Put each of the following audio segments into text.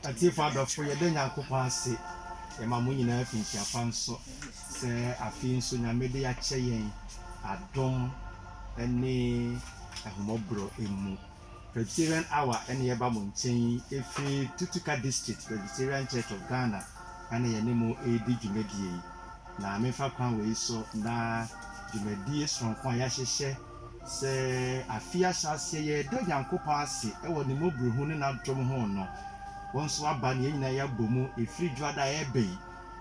Atiefo adɔfo, yɛda Nyankopɔn ase, yɛma mo nyinaa fi nkyia pa nso, sɛ afei nso Nyame de akyɛ yɛn adom ne ahummɔborɔ mu. Presbyterian Hour na yɛba mo nkyɛn yi firi Tutuka District Presbyterian Church of Ghana na yɛne mo redi dwumadie yi. Na memfa kwan wei so na dwumadie sononko a yɛahyehyɛ, Sɛ afei ahyɛaseɛ yɛɛdɔ Nyankopɔn ase wɔ Ne mmɔborohunu ne N'adom ho no, wo nso aba na yɛn nyinaa yɛabɔ mu ɛfiri Dwoada a ɛreba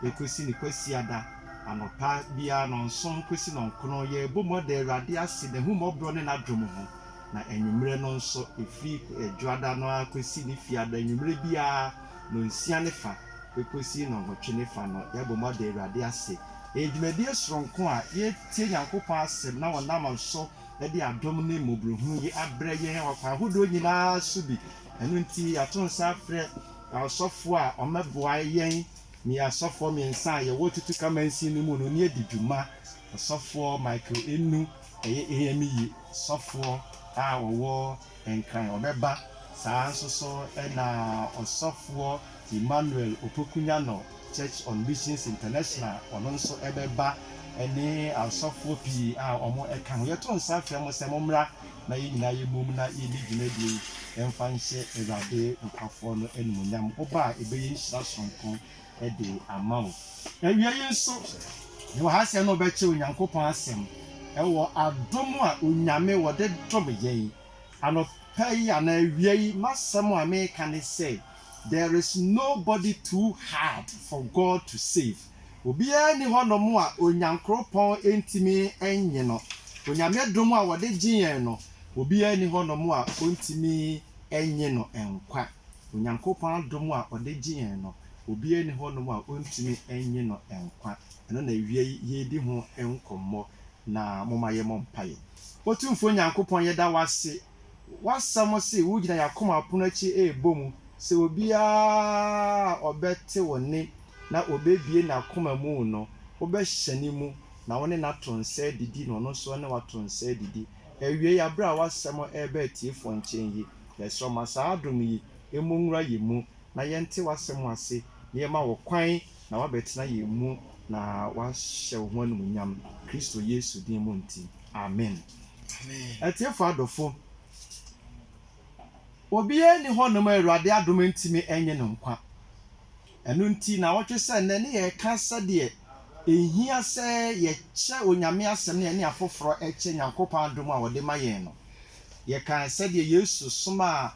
yi kɔsi Ne Kwasiada anɔpa biara nnɔnson kɔsi nnɔnkron yɛrebɔ mu ada Awurade ase N'ahummɔborɔ ne N'adom ho, na anwummerɛ no nso ɛfiri Dwoada no ara kɔsi Ne Fiada anwummerɛ biara. nɔnsia ne fa bɛkɔsi nɔnwɔtwe ne fa no, yɛabɔ mu ada Awurade ase. Ɛyɛ dwumadie sononko a yɛretie Nyankopɔn asɛm na ɔnam so de adom ne mmɔborɔhunu yi abrɛ yɛn wɔ akwan ahodoɔ nyina ara so bi. Ɛno nti yɛato nsa afrɛ asɔfoɔ a wɔbɛboa yɛn ne asɔfoɔ mmiɛnsa a yɛwɔ Tutuka Mansin no mu no ne adi dwuma, Ɔsɔfoɔ Michael Enu, ɛyɛ AME sɔfoɔ a ɔwɔ. Nkran, ɔbɛba saa ara nso so na Ɔsɔfoɔ Emmanuel Opoku Nyannor, Church on Missions International, ɔno nso bɛba ne asɔfoɔ pii a wɔka ho. Yɛto nsa frɛ mo sɛ mommra na yɛn nyinaa yɛmmom na yɛnni dwumadie yi mfa nhyɛ Awurade nkurɔfoɔ no animuonyam. Mo ba a ɛbɛyɛ nhyira sononko de ama wo. Awiei nso, yɛwɔ ha sɛ na wɔbɛkyɛ Onyankopɔn Asɛm wɔ adom a Onyame wɔde dom yɛn. Anɔpa yi anaa awia yi, m'asɛm a meka ne sɛ, There is nobody too hard for God to save. Obiara nni hɔ nom a Onyankropɔn ntumi nnye no. Onyame dom a wɔde gye yɛn no, obiara nni hɔ nom a ɔntumi nnye no nkwa. Onyankopɔn adom a ɔde gye yɛn no, obiara nni hɔnom a ɔntumi nnye no nkwa. Ɛno na awia yi yɛredi ho nkɔmmɔ, na momma yɛmmɔ mpaeɛ. Otumfoɔ Nyankopɔn, yɛda wo ase. W'asɛm se wogyina yɛn akoma apono akyi rebɔ mu sɛ obiara a ɔbɛte wo nne na ɔbɛbue n'akoma mu no, wobɛhyɛne mu na wo ne no ato nsa adidi na ɔno nso ne wo ato nsa adidi. Awiei, bere a w'asɛm reba atiefo nkyɛn yi, yɛsrɛ wo, ma saa adom yi mmɔ nwura yɛn mu, na yɛnte w'asɛm ase, na yɛma wo kwan na woabɛtena yɛn mu na woahyɛ wo ho anumunyam, Kristo Yesu din mu nti. Amen. Atiefo adɔfo, obiara nni hɔnom a Awurade adom ntumi nnye no nkwa. Ɛno nti, nnawɔtwe sɛ nnɛ, ne yɛreka sɛdeɛ ɛhia sɛ yɛkyɛ Onyame Asɛm na yɛne afoforɔ kyɛ Nyankopɔn adom a Ɔde ma yɛn no. Yɛkaa sɛdeɛ Yesu somaa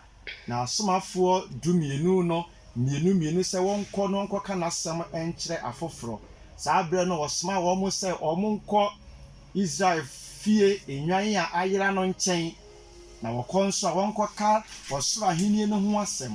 N'asomafoɔ dumienu no mmienu mmienu sɛ wɔnkɔ na wɔnkɔka N'Asɛm nkyerɛ afoforɔ. Saa berɛ no, Ɔsomaa wɔn sɛ wɔnkɔ Israel fie nnwan a ayera no nkyɛn Na wɔkɔ nso a, wɔnkɔka ɔsoro ahennie no ho asɛm,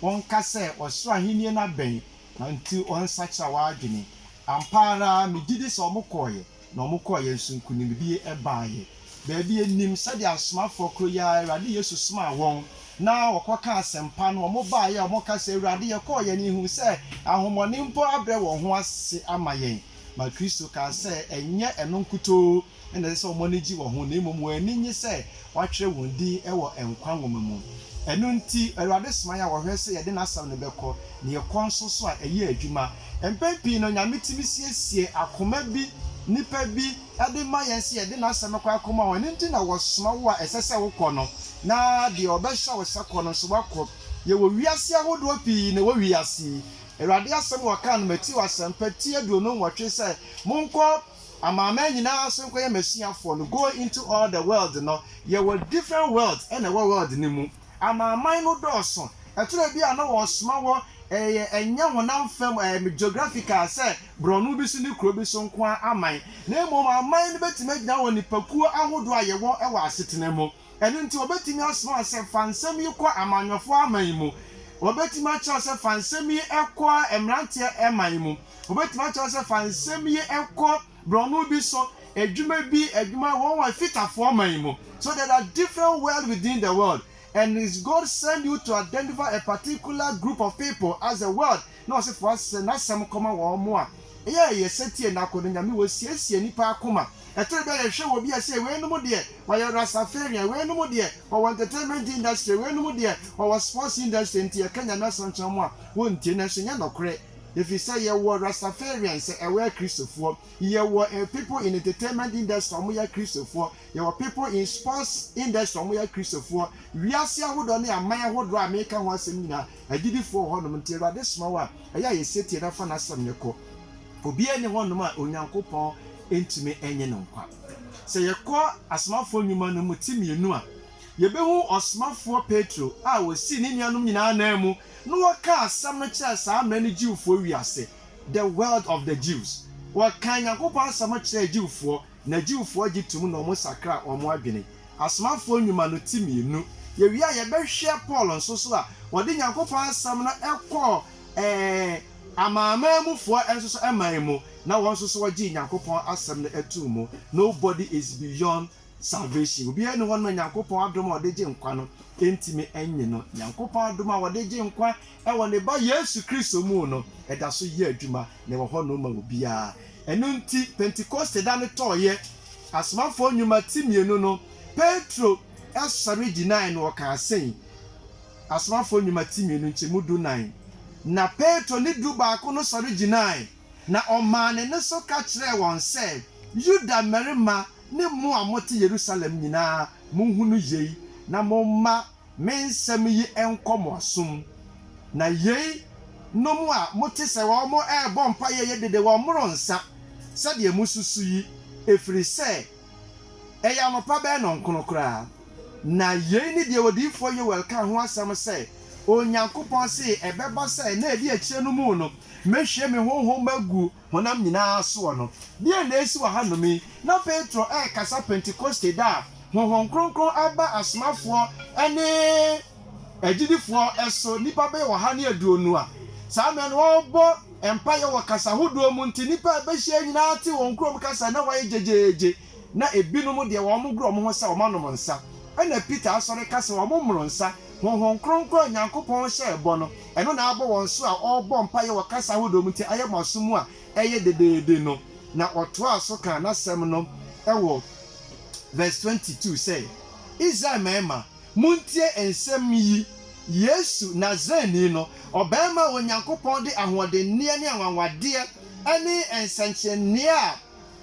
wɔnka sɛ, 'Ɔsoro ahennie no abɛn, na enti wɔnsakyera wɔn adwene. Ampa ara, megye di sɛ wɔkɔeɛ, na wɔkɔeɛ nso nkonimdie baeɛ. Baabi a yɛnnim, sɛdeɛ asomafoɔ koro yi ara, Awurade Yesu somaa wɔn, na wɔkɔkaa asɛmpa no, wɔbaeɛ a wɔka sɛ, 'Awurade, yɛkɔeɛ na yɛhunuu sɛ ahonhommɔne mpo abrɛ wɔn ho ase ama yɛn. Ma Kristo kaa sɛ, Ɛnyɛ ɛno nkutoo. na ɛsɛ sɛ wɔn ani gye wɔ ho, na mmom wɔn ani nnye sɛ wɔatwerɛ wɔn din wɔ nkwa nwoma mu. Ɛno nti, Awurade somae a wɔhwɛ sɛ yɛde n'asɛm no bɛkɔ, na yɛkɔ nso so a, ɛyɛ adwuma. Mpɛn pii no, Nyame tumi siesie akoma bi, nnipa bi, de ma yɛn sɛ yɛde n'asɛm no kɔ akɔma wɔn. Ɛno nti na wɔsoma wo a ɛsɛ sɛ wokɔ no, na deɛ wɔbɛhyɛ wo sɛ kɔ no nso, woakɔ. Yɛwɔ wiase ahodoɔ pii na ɛwɔ wiase yi. Awurade asɛm a wɔkaa no Mateo Asɛmpa ti aduonu nwɔtwe sɛ, Monkɔ. Amanaman nyinaa so nkɔyɛ m'asuafoɔ no, go into all the world no, yɛwɔ different worlds na ɛwɔ world no mu. Amanaman no dɔɔso. Ɛtɔ da bi a na wɔsoma wɔ ɛyɛ ɛnyɛ honam fam ɛɛ geographical sɛ borɔno bi so ne kuro bi so nko ara aman, na mmom aman no bɛtumi agyina wɔ nnipakuo ahodoɔ a yɛwɔ wɔ asetena mu. Ɛno nti, wɔbɛtumi asoma wo sɛ fa nsɛm yi kɔ amanyɔfoɔ aman mu. Wɔbɛtumi akyerɛ wo sɛ fa nsɛm yi kɔ mmeranteɛ man mu. Wɔbɛtumi akyerɛ wo sɛ fa nsɛm yi kɔ borɔno bi so adwuma bi, adwuma wɔn wɔ Fitafoɔ man mu. So there are different world within the world and God send you to identify a particular group of people as a world na ɔse foa sɛ n'asɛm kɔma wɔn mo a ɛyɛ a ɛyɛ sɛ tie n'ako no nyame wɔ siesie nipa akoma ɛtore bɛ yɛ hwɛ wɔ bi a ɛse wei nom deɛ wɔyɛ rastafarian wei nom deɛ wɔwɔ entertainment industry wei nom deɛ wɔwɔ sports industry nti yɛka nyame asɛm kyerɛ mo a wɔntie nanso nyɛ nɔkorɛ ɛfiri sɛ yɛ wɔ rastafarian sɛ ɛwɔ akristofoɔ yɛ wɔ people in entertainment industry a wɔn yɛ akristofoɔ yɛ wɔ people in sports industry a wɔn yɛ akristofoɔ wiase ahodoɔ ne aman ahodoɔ a meka ho asɛm nyinaa Agyidifoɔ wɔ hɔnom, nti Awurade soma wo a, ɛyɛ a yɛ setie na fa N'Asɛm no kɔ. Obiara nni hɔnom a Onyankopɔn ntumi nnye no nkwa. Sɛ yɛkɔ Asomafoɔ Nnwuma no mu ti mmienu a, yɛbɛhu Ɔsomafoɔ Petro a ɔsii ne nuanom nyinaa nan mu na ɔkaa Asɛm no kyerɛɛ saa mmerɛ no Jewfoɔ wiase, the world of the Jews. Ɔkaa Nyankopɔn Asɛm no kyerɛɛ Jewfoɔ. na Jewfoɔ gye tom na wɔn sakra wɔn adwene. Asomafoɔ Nnwuma no ti mmienu. Yɛwie a yɛbɛhwɛ Paul nso so a ɔde Nyankopɔn asɛm no kɔɔ ɛɛɛ Amanamanmufoɔ nso so man mu na wɔn nso so wɔgyee Nyankopɔn asɛm no too mu. Nobody is beyond salvation. Obiara nni hɔ nom a Nyankopɔn adom a ɔde gye nkwa no ntumi nnye no. Nyankopɔn adom a wɔde gye nkwa Wɔ ne Ba Yesu Kristo mu no, ɛda so yɛ adwuma, na ɛwɔ hɔnom ma obiara. Ɛno nti, Pentekoste da no tɔeɛ, Asomafoɔ Nnwuma ti mmienu no, Petro sɔre gyinaeɛ na ɔkaa sei, Asomafoɔ Nnwuma ti mmienu, nkyɛmu dunan. Na Petro ne Dubaako no sɔre gyinaeɛ, na ɔmaa ne nne so ka kyerɛɛ wɔn sɛ, Yuda mmarima ne mo a mote Yerusalem nyinaa, monhunu yei, na momma me nsɛm yi nkɔ mo asom, na yei nom a mote sɛ wɔn rebɔ mpaeɛ yi dede wɔn mmoro nsa sɛdeɛ mosusu yi, ɛfiri sɛ ɛyɛ anɔpa bɛyɛ nnɔnkono koraa. Na yei ne deɛ odiyifoɔ Yoel kaa ho asɛm sɛ, Onyankopɔn see ɛbɛba sɛ nna a ɛdi akyire no mu no, mɛhwie me Honhom agu honam nyinaa soɔ no. Deɛn na ɛresi wɔ hanom yi? Na Petro rekasa Pentekoste da a Honhom Kronkron aba asomafoɔ ne agyidifoɔ so, nnipa bɛyɛ ɔha ne aduonu a saa mmerɛ no wɔrebɔ mpaeɛ wɔ kasa hodoɔ mu nti nnipa a ɛbɛhyia nyinaa te wɔn kurom kasa na wɔayɛ gyegyeegye. na ebinom deɛ wɔgoro wɔn ho sɛ wɔanom nsa. Ɛnna Peter sɔre ka sɛ wɔmmoro nsa. Honhom kronkron a Onyankopɔn hyɛɛ bɔ no, ɛno na abɔ wɔn so a ɔrebɔ mpaeɛ wɔ kasa ahodoɔ mu nti ayɛ mmaso mu a ɛyɛ dedeede no. Na ɔtoaa so kaa n'asɛm no wɔ Verse twenty two sɛ, Israel mmarima, montie nsɛm yi, Yesu, Nasareni no, ɔbarima a Onyankopɔn de ahoɔdenneɛ ne anwanwadeɛ ne nsɛnkyerɛnneɛ a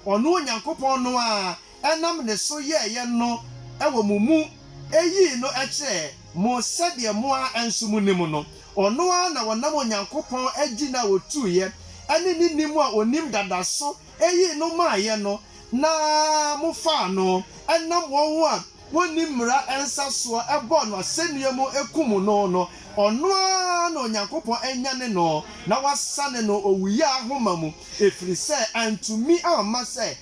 ɔno Onyankopɔn no ara nam ne so yɛeɛ no wɔ mo mu yii no kyerɛɛ mo sɛdeɛ mo ara nso monim no. Ɔno ara na ɔnam Onyankopɔn agyina a ɔtuiɛ ne ne nim a ɔnim dada so yii no maaeɛ no na mofaa no nam wɔn a wonni mmara nsa soɔ bɔɔ no asɛnnua mu kumm no no, ɔno ara na Onyankopɔn anyane no na wasane no owuyaa ahoma mu, ɛfiri sɛ antumi amma sɛ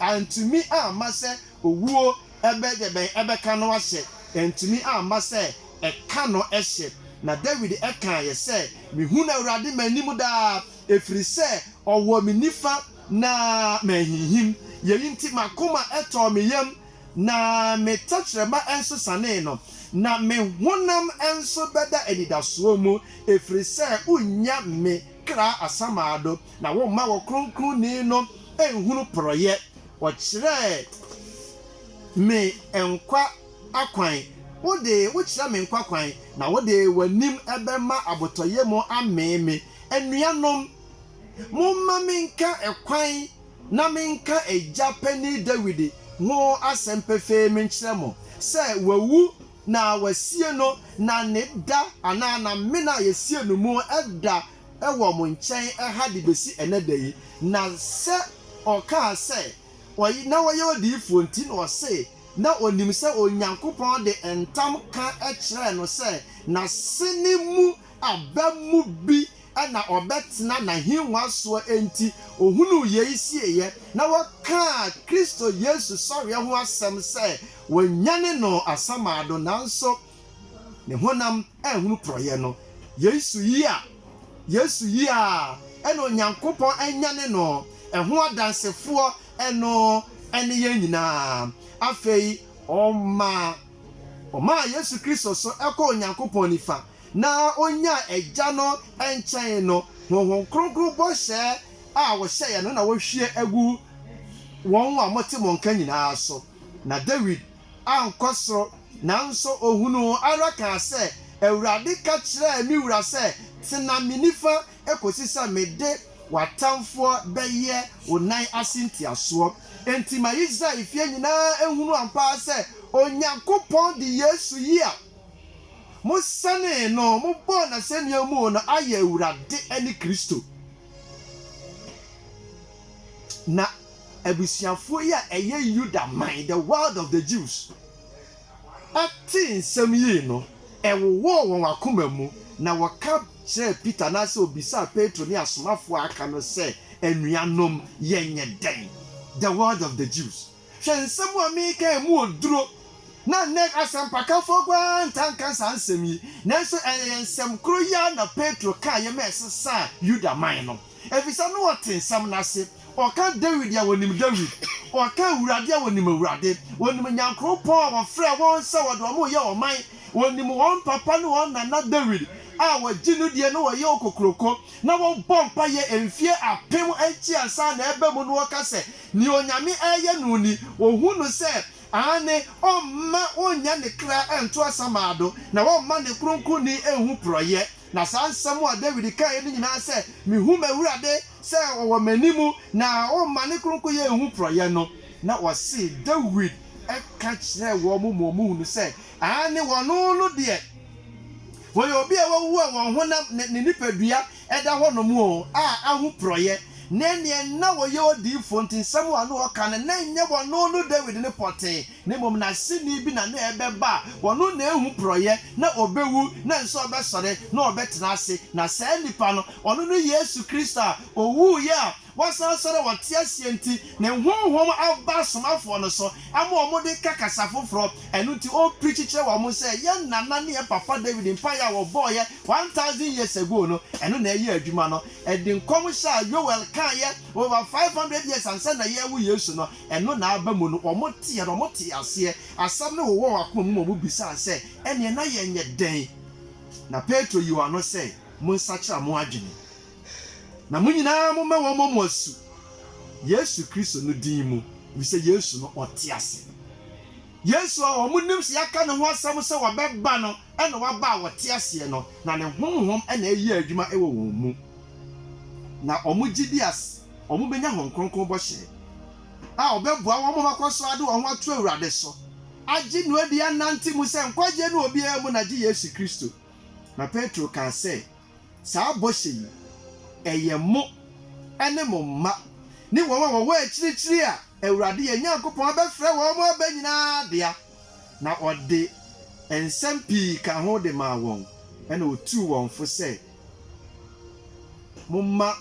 antumi amma sɛ owuo bɛ deɛ bɛn ɛbɛka no ahyɛ, antumi amma sɛ ɛka no hyɛ. Na Dawid kaeɛ sɛ, Mehunu Awurade m'anim daa, ɛfiri sɛ ɔwɔ me nifa na manhinhim, yei nti m'akoma tɔɔ me yam Na me tɛkyerɛma nso sanee no, na me honam nso bɛda anidasoɔ mu, ɛfiri sɛ wonnya me kra asamando, na womma wo Kronkronni no nhunu porɔeɛ. Wɔkyerɛɛ me nkwa akwan, wode wokyerɛ me nkwa kwan, na wode w'anim bɛma abotɔyam amee me. Anuanom, momma menka ɛkwan na menka agya panin Dawid ho asɛm pefee menkyerɛ mo, sɛ wawu na wɔasie no na ne da anaa n'amena a yɛsiee no mu da wɔ mo nkyɛn ha de bɛsi ɛnnɛ da yi, na sɛ ɔkaa sɛ ɔye na ɔyɛ odiyifoɔ nti na ɔse na ɔnim sɛ Onyankopɔn de ntam ka kyerɛɛ no sɛ n'asene mu aba mu bi na ɔbɛtena n'ahengua soɔ enti ɔhunuu yei sieeɛ, na wɔkaa Kristo Yesu sɔreɛ ho asɛm sɛ wɔanyane no asamado, nanso ne honam anhunu porɔeɛ no. Yesu yi a Yesu yi a ɛna Onyankopɔn anyane no ho adansefoɔ no ne yɛn nyinaa. Afei ɔmaa ɔmaa Yesu Kristo so kɔɔ Onyankopɔn nifa. na onyaa Agya no nkyɛn no honhom kronkron bɔhyɛ a wɔhyɛeɛ no na wɔahwie agu wɔn a wɔte mo nka nyinaa so. Na Dawid ankɔ soro, nanso ɔhunuu ara kaa sɛ, Awurade ka kyerɛɛ me Wura sɛ, 'Tena me nifa kɔsi sɛ mede w'atamfoɔ bɛyɛ wo nan ase ntiasoɔ. Enti ma Israel efie nyinaa nhunu ampa ara sɛ Onyankopɔn de Yesu yi a Mo sɛnee no, mo bɔɔ n'asɛnnua mu no ayɛ Awurade ne Kristo. Na abusuafoɔ yi a ɛyɛ Yuda man, the world of the Jews, tee nsɛm yi no, ɛwowɔɔ wɔn akoma mu, na wɔka kyerɛɛ Peter, anaasɛ wɔbisaa Petro ne asomafoɔ a aka no sɛ, Anuanom, yɛnyɛ dɛn? The world of the Jews. Hwɛ nsɛm a meka yi, emu oduro. Na nnɛ asɛmpakafoɔ koraa ntaa nka saa nsɛm yi, nanso ɛyɛ nsɛm koro yi ara na Petro kaeɛ ma ɛsesaa Yuda man no, ɛfiri sɛ na ɔte nsɛm no ase. Ɔka Dawid a, ɔnim Dawid, ɔka Awurade a, ɔnim Awurade, ɔnim Nyankoropɔn a ɔfrɛɛ wɔn sɛ wɔde wɔn reyɛ ɔman, ɔnim wɔn papa ne wɔn nana Dawid a wɔgye no die na wɔyɛ okokuroko na wɔbɔ mpaeɛ mfeɛ apem akyi ansa na ɛreba mu na ɔka sɛ Nea Onyame reyɛ no ni, Ohu no sɛ, aane, Ɔmma onnya ne kra nto asamaa do, na Ɔmma ne Kronkronni nhu porɔeɛ. Na saa nsɛm a Dawid kaeɛ no nyinaa sɛ, Mehu m'Awurade sɛ ɔwɔ m'anim, na Ɔmma ne Kronkronyɛ nhu porɔeɛ no, na wɔse Dawid ka kyerɛɛ wɔn ma wɔhunu sɛ, aane, wɔn no deɛ, wɔyɛ obi a wawu a wɔn honam, ne nipadua, ɛda hɔnom o, a ahoporɔeɛ ne neɛ na wɔyɛ odiyifoɔ nti nsɛm a na ɔka no na ɛnyɛ ɔno no Dawid no pɔtee, na mmom n'aseni bi na na ɛbɛba a ɔno na ɛhu porɔeɛ, na ɔbɛwu, na ɛnso ɔbɛsɔre, na ɔbɛtena ase, na saa nipa no, ɔno ne Yesu Kristo a ɔwuiɛ a Wɔsan sɔre a wɔte aseɛ nti, ne Honhom aba asomafoɔ no so ma wɔde ka kasa foforɔ. Ɛno nti ɔpreachi kyerɛ wɔn sɛ yɛn nana ne yɛn papa David mpaeɛ a wɔbɔeɛ one thousand years ago no, ɛno na ɛyɛɛ adwuma no. Ɛde nkɔmhyɛ a Yoel kaeɛ over five hundred years ansa na yɛrewo Yesu no, ɛno na aba mu no. Wɔteeɛ no, wɔtee aseɛ. Asɛm no wowɔ wɔn akoma mu ma wɔbisaa sɛ, Ɛnneɛ na yɛnyɛ dɛn? Na Petro yii wɔn ano sɛ, Monsakyera mo adwene. Na mo nyinaa momma wɔmmɔ mo asu Yesu Kristo no din mu, efisɛ Yesu no, ɔte ase. Yesu a wɔnim sɛ yɛaka ne ho asɛm sɛ ɔbɛba no na waba a ɔte aseɛ no, na ne honhom na ɛreyɛ adwuma wɔ wɔn mu, na wɔgye di sɛ wɔbɛnya Honhom Kronkron bɔhyɛ a ɔbɛboa wɔn ma wɔakɔ so ade wɔn ho ato Awurade so, agye no adi, anante mu sɛ nkwagyeɛ no wɔ obiara mu, na gye Yesu Kristo. Na Petro kaa sɛ. Saa bɔhyɛ yi, ɛyɛ mo ne mo mma ne wɔn a wɔwɔ akyirikyiri a Awurade yɛn Nyankopɔn abɛfrɛ wɔn aba nyinaa dea. Na ɔde nsɛm pii kaa ho de maa wɔn, ɛnna otuu wɔn fo sɛ, Momma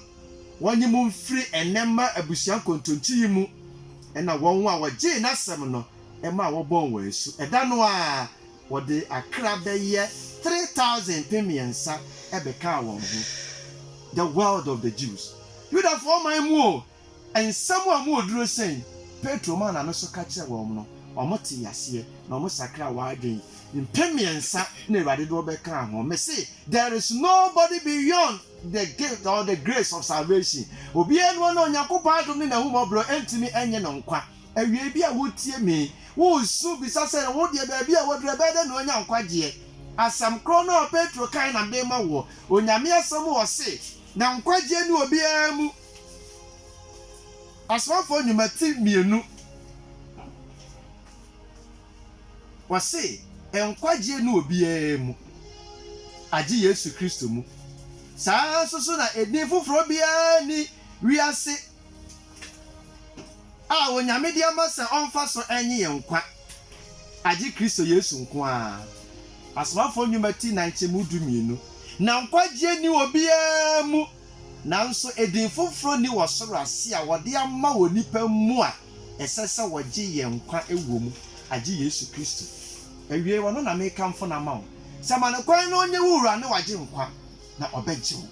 wɔnnye mo mfiri ɛnnɛ mma abusua nkontonkyi yi mu. Ɛnna wɔn a wɔgyee n'asɛm no maa wɔbɔɔ wɔn asu. Ɛda no ara, Wɔde akra bɛyɛ three thousand, mpem mmiɛnsa, bɛkaa wɔn ho, the world of the Jews, Yudafoɔ man mu o, nsɛm a emu wɔ duro sɛn Petro maa n'ano so ka kyerɛɛ wɔn no, wɔtee aseɛ, na wɔsakraa wɔn adwene, mpem mmiɛnsa na Awurade de wɔbɛkaa ho. Mese, there is nobody beyond the gift or the grace of salvation, obiara nni hɔ no a Onyankopɔn adom ne n'ahummɔborɔ ntumi nnye no nkwa. Awiei bi a wotie me, wosu bisa sɛ, Wo deɛ, baabi a woaduru, ɛbɛyɛ dɛn na woanya nkwagyeɛ? Asɛm korɔ no a Petro kae na mede rema woɔ, Onyame Asɛm mu ɔse, Na nkwagyeɛ nni obiara mu. Asomafoɔ Nnwuma ti mmienu, wɔse, Nkwagyeɛ nni obiara mu, agye Yesu Kristo mu. Saa ara nso so na edin foforɔ biara nni wiase a Onyame de ama sɛ ɔmfa so nnye yɛn nkwa, agye Kristo Yesu nko ara. Asomafoɔ Nnwuma ti na nkyɛmu du mmienu. Na nkwagyeɛ nni obiara mu, nanso edin foforɔ nni wɔ soro ase a wɔde ama wɔ nnipa mu a ɛsɛ sɛ wɔgye yɛn nkwa wɔ mu, agye Yesu Kristo. Awiei, ɔno na mekamfo no ama wo, sɛ ma no kwan na ɔnyɛ wo Wura ne w'Agyenkwa. na ɔbɛgye wo.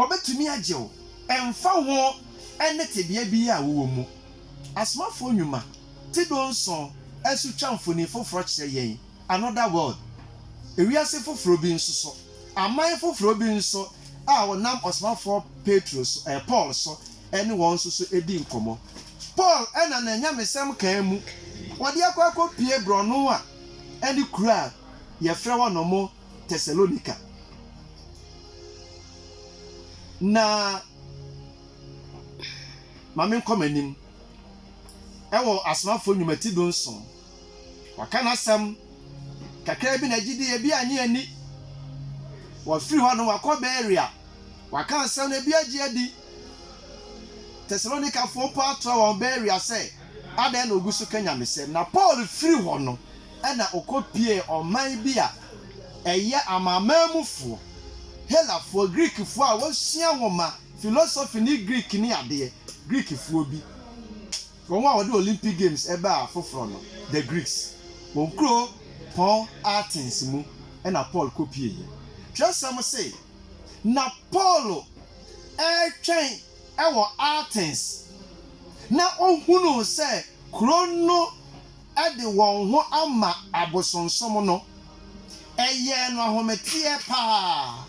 Ɔbɛtumi agye wo ɛmfa ho ne tebea biara a wowɔ mu. Asomafoɔ Nnwuma ti dunson so twa mfoni foforɔ kyerɛ yɛn another world, ewiase foforɔ bi nso so, aman foforɔ bi nso a wɔnam ɔsomafoɔ Petro so, ɛɛ Paul so ne wɔn nso so di nkɔmmɔ. Paul na n'anyamesɛm kaa mu, wɔde akɔ akɔpue borɔno a ɛne kuro a yɛfrɛ hɔ nom, Tesalonika. Na ma menkɔ m'anim. Ɛwɔ Asomafoɔ Nnwuma ti dunson, wɔaka n'asɛm kakraa bi na gyidie, ebi annye anni. Wafiri hɔ nom, wakɔ Berea, waka asɛm no, ebi agye adi. Tesalonikafoɔ mpo atorɔ wɔn Berea sɛ, Adɛn na ɔgu so ka nyamesɛm? Na Paul firi hɔ no, na okopiee ɔman bi a ɛyɛ Amanaman mufoɔ, Helafoɔ, Greekfoɔ a wɔsua nwoma, philosophy ne Greek ne adeɛ, Greekfoɔ bi, wɔn a wɔde Olympic Games baa foforɔ no, the Greeks, wɔn kuro pɔn Athens mu na Paul kopieeɛ. Twerɛsɛm se, Na Paul retwɛn wɔ Athens, na ɔhunuu sɛ kuro no de wɔn ho ama abosonsom no, ɛyɛɛ no ahometeɛ paa.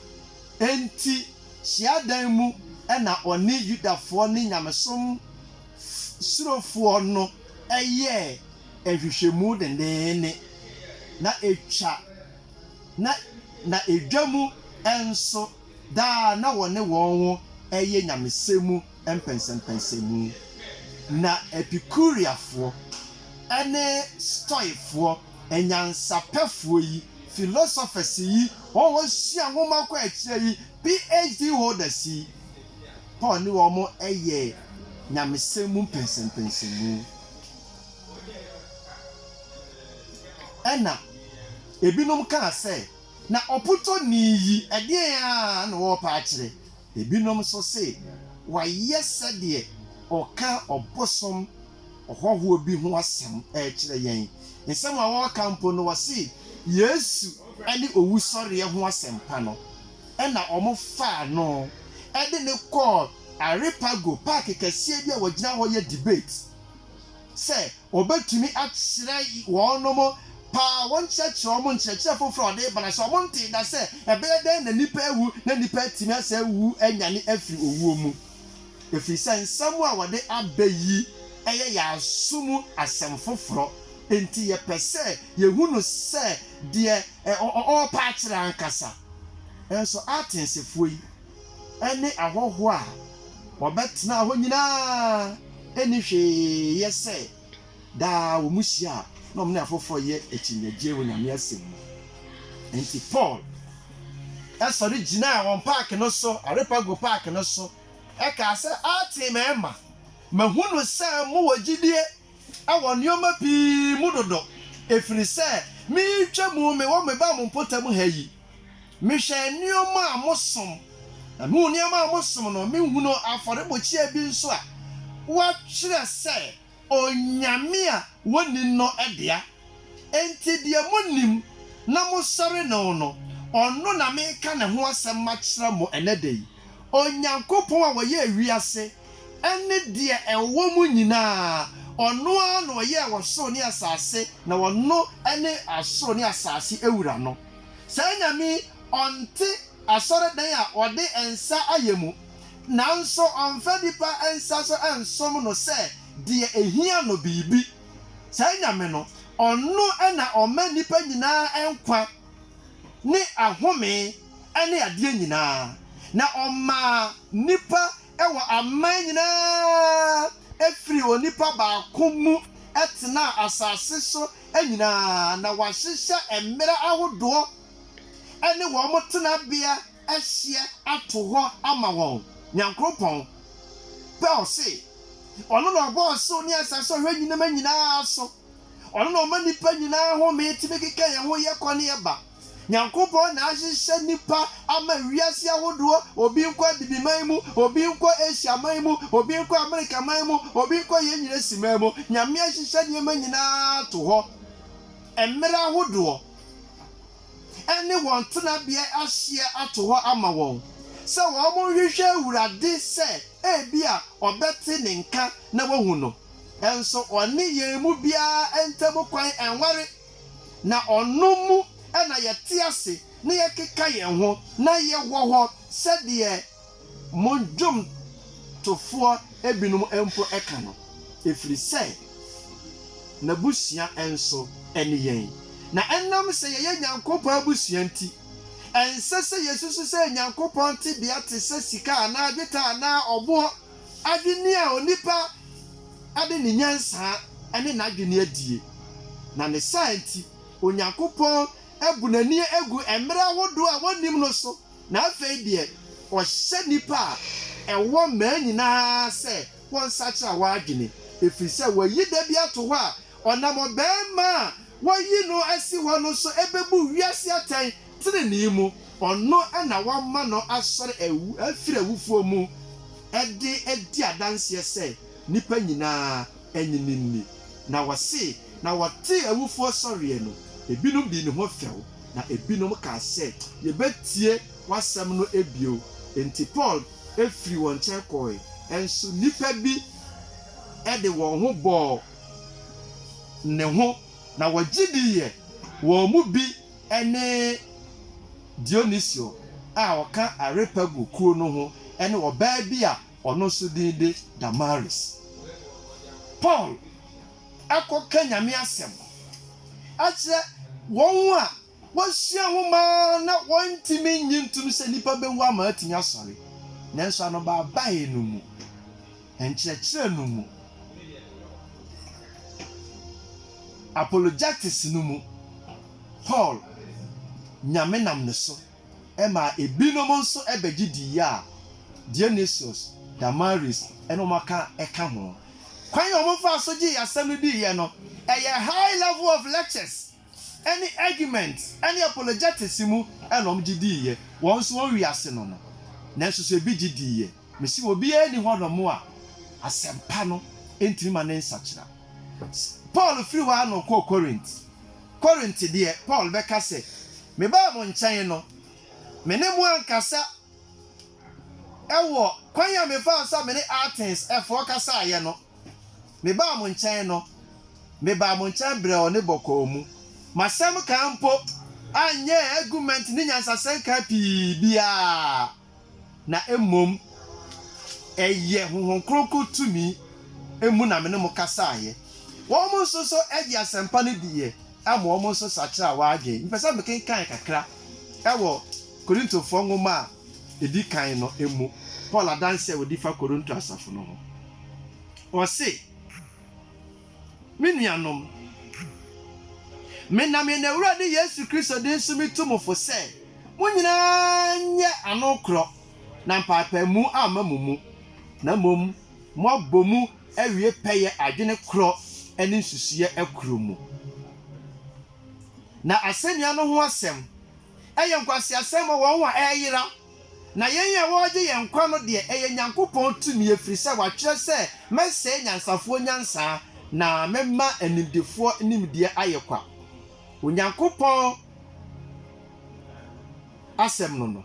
Enti hyiadan mu na ɔne Yudafoɔ ne nyamesom surofoɔ no yɛɛ nhwehwɛmu denneennen, na ɛtwa na na ɛdwa mu nso daa na wɔne wɔn yɛ nyamesɛm mu mpɛnsɛmpɛnsɛmu. Ná Epikureafoɔ ne Stoikfoɔ anyansapɛfoɔ yi, philosophers yi, wɔn a wɔsua nwoma kɔ akyire yi, PhD holders yi, Paul ne wɔn yɛ nyamesɛm mu mpɛnsɛmpɛnsɛmu. Ɛnna ebinom kaa sɛ, Na ɔpotɔni yi, ɛdeɛn ara na ɔrepɛ akyerɛ? Ebinom nso se wayɛ sɛdeɛ ɔka ɔbosom ɔhɔhoɔ bi ho asɛm rekyerɛ yɛn. Nsɛm a ɔreka mpo no, ɔse Yesu ne owusɔreɛ ho asɛmpa no na wɔfaa no de no kɔɔ Areopago, paake kɛseɛ bi a wɔgyina hɔ yɛ debate. sɛ wɔbɛtumi akyerɛ wɔnom paa wɔnkyerɛkyerɛ wɔn nkyerɛkyerɛ foforɔ a ɔde reba no ase. Wɔntee da sɛ ɛbɛyɛ dɛn na nnipa awu na nnipa atumi asan awu anyane afiri owuo mu, ɛfiri sɛ nsɛm a wɔde aba yi yɛ yɛn aso mu asɛm foforɔ, enti yɛpɛ sɛ yɛhu no sɛ deɛ ɔrepaakyerɛ ankasa. Nanso Atensfoɔ yi. ne ahɔho a wɔbɛtenaa hɔ nyinaa nni hwee yɛ sɛ daa wɔhyia a na wɔne afoforo yɛ akyinnyegyeɛ wɔ Nyame asɛm mu. Enti Paul sɔre gyinaa wɔn paake no so, Areopago paake no so, kaa sɛ, Aatee mɛɛma, mahunu sɛ mowɔ gyidie wɔ nnoɔma pii mu dodo, ɛfiri sɛ meretwa mu mewɔ me ba mo mpɔtam ha yi, Mehwɛ nneɛma a mosom, na mihu nneɛma a mosom no. Mihunu afɔrebukyia bi nso a wɔatwerɛ sɛ onyame a wonni no dea. Enti deɛ monim na mosɔre no no, ɔno na mereka ne ho asɛm makyerɛ mo ɛnnɛ da yi. Onyankopɔn a ɔyɛɛ wiase ne deɛ ɛwɔ mu nyinaa, ɔno ara na ɔyɛɛ ɔsoro ne asase, na ɔno ne ɔsoro ne asase wura no. Saa Nyame yi, ɔnte asɔredan a wɔde nsa ayɛ mu, nanso ɔmfa nnipa nsa so nsom no sɛ deɛ ɛhia no biribi. Saa Nyame no, ɔno na ɔma nnipa nyinaa nkwa ne ahome ne adeɛ nyinaa, na ɔmaa nnipa Wɔ aman nyinaa firi onipa baako mu tenaa asase so nyinaa na wɔahyehyɛ mmera ahodoɔ ne wɔn tenabea hyeɛ ato hɔ ama wɔn. Nyankroɔpɔn pɛ ɔse, Ɔno na Ɔbɔɔ ɔsoro ne asase Ɔhwɛ nnyinema nyinaa so. Ɔno na Ɔma nnipa nyinaa home tumi keka yɛn ho yɛ kɔ ne yɛ ba. Nyankopɔn na ahyehyɛ nnipa ama wiase ahodoɔ, obi nkɔ Abibiman mu, obi nkɔ Asia man mu, obi nkɔ Amerika man mu, obi nkɔ yɛn nyina si man mu. Nyame ahyehyɛ nneɛma nyina ara ato hɔ, mmerɛ ahodoɔ ɛne wɔn tenabeɛ ahyeɛ ato hɔ ama wɔn, sɛ wɔn nhwehwɛ Awurade sɛ ebia ɔbɛte ne nka na wahu no, nso ɔne yɛn mu biara ntam kwan nware. Na ɔno mu na yɛte ase na yɛkeka yɛn ho na yɛwɔ hɔ sɛdeɛ mo dwomtofoɔ binom mpo ka no, ɛfiri sɛ n'abusua nso ne yɛn. Na ɛnam sɛ yɛyɛ Nyankopɔn abusua nti, ɛnsɛ sɛ yɛsusu sɛ Nyankopɔn tebea te sɛ sika anaa dwetɛ anaa ɔboɔ. adwene a onipa de ne nyansa ne n'adwene adie, na ne saa nti Onyankopɔn abu n'ani agu mmerɛ ahodoɔ a wɔnnim no so, na afei deɛ ɔhyɛ nnipa a ɛwɔ mmaa nyina ara sɛ wɔnsakyera wɔn adwene, ɛfiri sɛ wayi da bi ato hɔ a ɔnam ɔbarima a wɔayi no asi hɔ no so bɛbu wiase atɛn. Trenee mu, ɔno na wɔama no asɔre awu afiri awufoɔ mu de adi adanseɛ sɛ nnipa nyina ara nnye no nni. Na wɔse na wɔtee awufoɔ sɔreɛ no, ebinom dii ne ho fɛw, na ebinom kaa sɛ, Yɛbɛtie w'asɛm no bio. Enti Paul firii wɔn nkyɛn kɔɔe, nso nnipa bi de wɔn ho bɔɔ ne ho, na wɔgye diiɛ, wɔn mu bi ne Dionisio a ɔka Areopago kuo no ho ne ɔbaa bi a ɔno nso din de Damaris. Paul kɔka Nyame asɛm kyerɛ wɔn a wɔasua nwoma na wɔntumi nnye ntom sɛ nnipa bɛwu ama atumi asɔre, nanso anobaabae no mu. nkyerɛkyerɛ no mu. Apologetics no mu, Paul nyame nam ne so maa ebinom nso bɛgye dii a Dionysius, Damaris ne wɔn aka ka ho. Kwan a wɔfaa so gyee asɛm no diiɛ no, ɛyɛ high level of lectures. ɛne argument ɛne apologetics mu ɛna wɔn gye dii yɛ, wɔn nso wɔn wiase no no, nanso sɛ ebi gye dii yɛ, mese wɔ obiara nni hɔ nom a asɛmpa no ntumi ma ne nsakyera. Paul firi hɔ ara na ɔkɔɔ Corinth, Corinth deɛ Paul bɛka sɛ, me baa mo nkyɛn no, me ne mo ankasa ɛwɔ kwan a me faa so a me ne Athens ɛfoɔ kasaeɛ no, Mebaa mo nkyɛn no, mebaa mo nkyɛn brɛoo ne bɔkɔɔ mu. M'asɛm kan mpo anyɛ argument ne nyansasɛm kan pii biara, na mmom ɛyɛ Honhom Kronkron tumi mu na me ne mo kasaeɛ. Wɔn nso so gyee asɛmpa no diiɛ ma wɔn nso sakyeraa wɔn adwene. Mepɛ sɛ mekenkan kakra wɔ Korintofoɔ nwoma a edi kan no mu Paul adanse a odi fa Korinto asafo no ho. Ɔse, Me nuanom, menam yɛn Awurade Yesu Kristo din so mitu mo fo sɛ mo nyinaa nyɛ ano korɔ na mpaapaemu amma mo mu, na mmom moabɔ mu awie pɛyɛ adwene korɔ ne nsusuiɛ korɔ mu. Na asɛnnua no ho asɛm, ɛyɛ nkwaseasɛm ma wɔn a ɛreyera, na yɛn a wɔregye yɛn nkwa no deɛ, ɛyɛ Nyankopɔn tumi, ɛfiri sɛ watwerɛ sɛ, Mɛsɛe nyansafoɔ nyansa, na mɛma animdefoɔ nimdeɛ ayɛ kwa. Onyankopɔn Asɛm no no.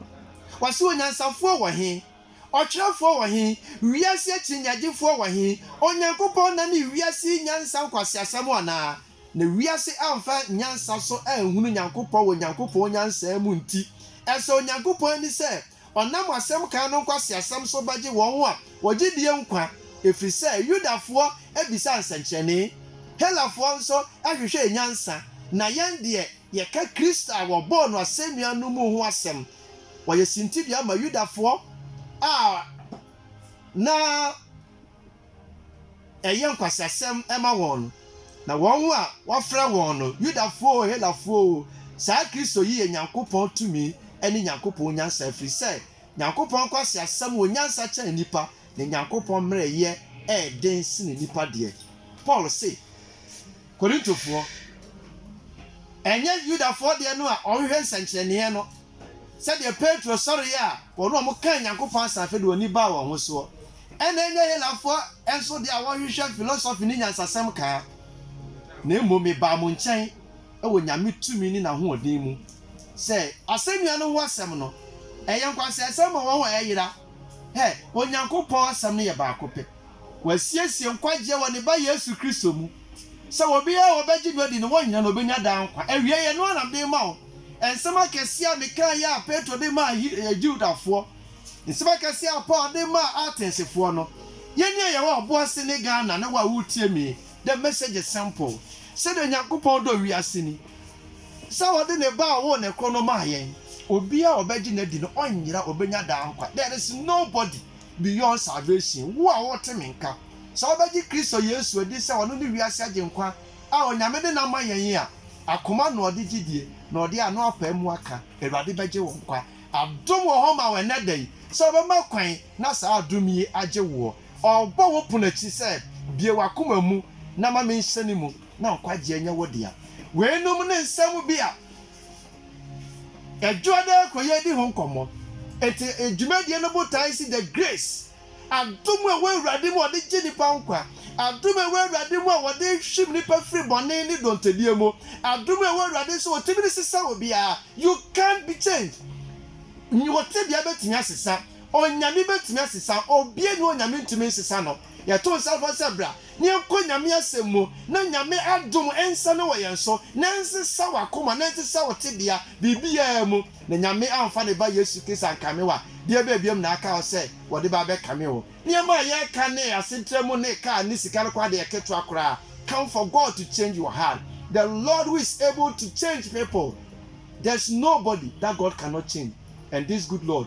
Wɔse onyansafoɔ wɔ he? Ɔtwerɛfoɔ wɔ he? Wiase akyinnyegyefoɔ wɔ he? Onyankopɔn nane wiase yi nyansa nkwaseasɛm anaa? Na wiase amfa nyansa so anhunu Nyankopɔn wɔ Nyankopɔn nyansaa mu nti, ɛsɔ Onyankopɔn ani sɛ ɔnam asɛm kan no nkwaseasɛm so bɛgye wɔn a wɔgye die nkwa, ɛfiri sɛ Yudafoɔ bisa nsɛnkyerɛnne, Helafoɔ nso hwehwɛɛ nyansa, na yɛn deɛ, yɛka Kristo a wɔbɔɔ no asɛnnua no mu ho asɛm. Wɔyɛ sintidua ma Yudafoɔ a na. ɛyɛ nkwasasɛm ma wɔn, na wɔn a wɔfrɛ wɔn no, Yudafo oo, Helafo oo, saa Kristo yi yɛ Nyankopɔn tumi ne Nyankopɔn nyansa, ɛfiri sɛ Nyankopɔn nkwaseasɛm wɔ nyansa kyɛn nnipa, na Nyankopɔn mmerɛyɛ yɛ den sene nnipa deɛ. Paul se. Korintofoɔ, ɛnyɛ Yudafoɔ deɛ no a wɔhwehwɛ nsɛnkyerɛnneɛ no, sɛdeɛ Petro sɔreeɛ a wɔn a wɔkaa Nyankopɔn asɛm afei de wɔn ani baa wɔn ho soɔ, ɛna ɛnyɛ Helafoɔ nso deɛ a wɔhwehwɛ filosofi ne nyansasɛm kaa, na mmom mebaa mo nkyɛn wɔ Nyame tumi ne n'ahoɔden mu, sɛ asɛnnua no ho asɛm no, ɛyɛ nkwaseasɛm ma wɔn a ɛyera, hɛ, Onyankopɔn asɛm no yɛ baako pɛ. Wasiesie nkwagyeɛ wɔ Ne Ba Yesu Kristo mu, sɛ obiara a ɔbɛgye no adi no, wɔn nyinaa na ɔbɛnya daa nkwa. Awiei, ɛno ara na mede rema wo, nsɛm akɛseɛ a mekaeɛ a Petro de maa He, Judafoɔ, nsɛm akɛseɛ a Paul de maa Atensfoɔ no. Yɛn ni a yɛwɔ ɔbo ase ne Ghana ne wo a woretie me yi, the message is simple, sɛdeɛ Onyankopɔn dɔ wiase ni, sɛ ɔde Ne Ba a ɔwoo no korɔ no maa yɛn, obiara a ɔbɛgye no adi no, ɔnyera, ɔbɛnya daa nkwa. There is nobody beyond salvation, wo a worete me nka, sɛ wobɛgye Kristo Yesu adi sɛ ɔno ne wiase Agyenkwa a Onyame de no ama yɛn a, akoma na ɔde gyidie na ɔde ano apae mu aka, Awurade bɛgye wo nkwa. Adom wɔ hɔ ma wo ɛnnɛ da yi sɛ wobɛma kwan na saa adom yi agye woɔ. Ɔrebɔ wo pono akyi sɛ, Bue w'akoma mu na ma menhyɛne mu na nkwagyeɛ nyɛ wo dea. Weinom ne nsɛm bi a Adwuma no ara kɔ yɛ di ho nkɔmmɔ. Enti dwumadie no botae si The Grace, Adom a ɛwɔ Awurade mu a wɔde gye nnipa nkwa, adom a ɛwɔ Awurade mu a wɔde hwim nnipa firi bɔne ne dɔntɛdie mu, adom a ɛwɔ Awurade sɛ ɔtumi de sesa obiara, you can be changed. Wo tebea bɛtumi asesa, Onyame bɛtumi asesa, obiara nni hɔ a Onyame ntumi nsesa no. Yɛto nsa frɛ wo sɛ bra. na yɛnkɔ Nyame asɛm mu na Nyame adom nsane wɔ yɛn so, na ɛnsesa w'akoma, na ɛnsesa wo tebea, biribiara mu, na Nyame amfa ne Ba Yesu Kristo ankame wo a, deɛ ɛbɛyɛ biom na aka wo sɛ wɔde bɛ abɛkame wo? Nneɛma a yɛreka ne asetra mu ne car ne sika no koraa deɛ ketewa koraa, come for God to change your heart, the Lord who is able to change people, there's nobody that God cannot change, and this good Lord,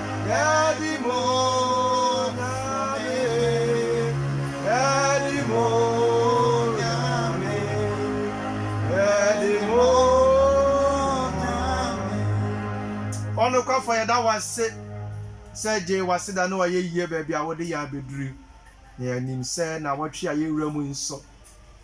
Ɔnokwafo, yɛda wo ase sɛ gyee w'aseda ne w'ayɛyie baabi a wode yɛn abɛduru yi, na yɛnim sɛ nnawɔtwe a yɛwura mu yi nso,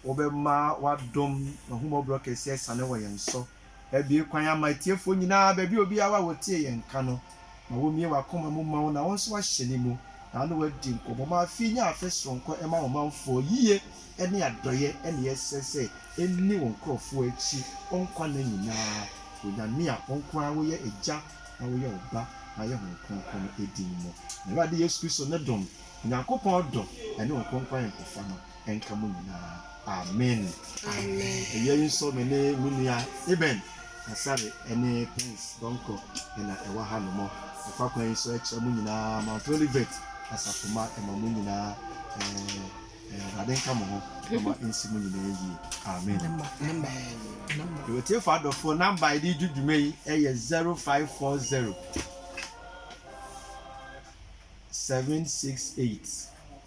wobɛma w'adom, w'ahummɔborɔ kɛseɛ asiane wɔ yɛn so. Abue kwan ama atiefoɔ nyinaa, baabi a obiara wɔ a ɔtie yɛn nka no, ma wɔmmue w'akoma mu mma wo na wo nso ahyɛne mu, na wo ne wɔadi nkɔmmɔ. Ma afe yi nyɛ afe soronko mma wo manfoɔ, yie ne adɔeɛ na ɛsɛ sɛ ɛnni wo nkurɔfoɔ akyi wo nkwa nna nyinaa. Onyame a wo nko ara woyɛ Agya na woyɛ Ɔba na woyɛ Honhom Kronkron no din mu. Awurade Yesu Kristo ne dom, Onyankopɔn dɔ ne Honhom Kronkron ayɔnkofa no, nka mo nyinaa. Amen. Awia yi nso me ne me nua Eben Asare ne Prince Donkor na ɛwɔ ha nom. Ɛfa kwan yi so ɛkyerɛ mo nyinaa Mount Olivet asafomma ɛma mo nyinaa ɛɛ Awurade nka mo ho ɛma nsi mo nyinaa yie. Amen. Yɛwɔ tiefo adɔfoɔ namba yɛde di dwuma yi ɛyɛ 0540 768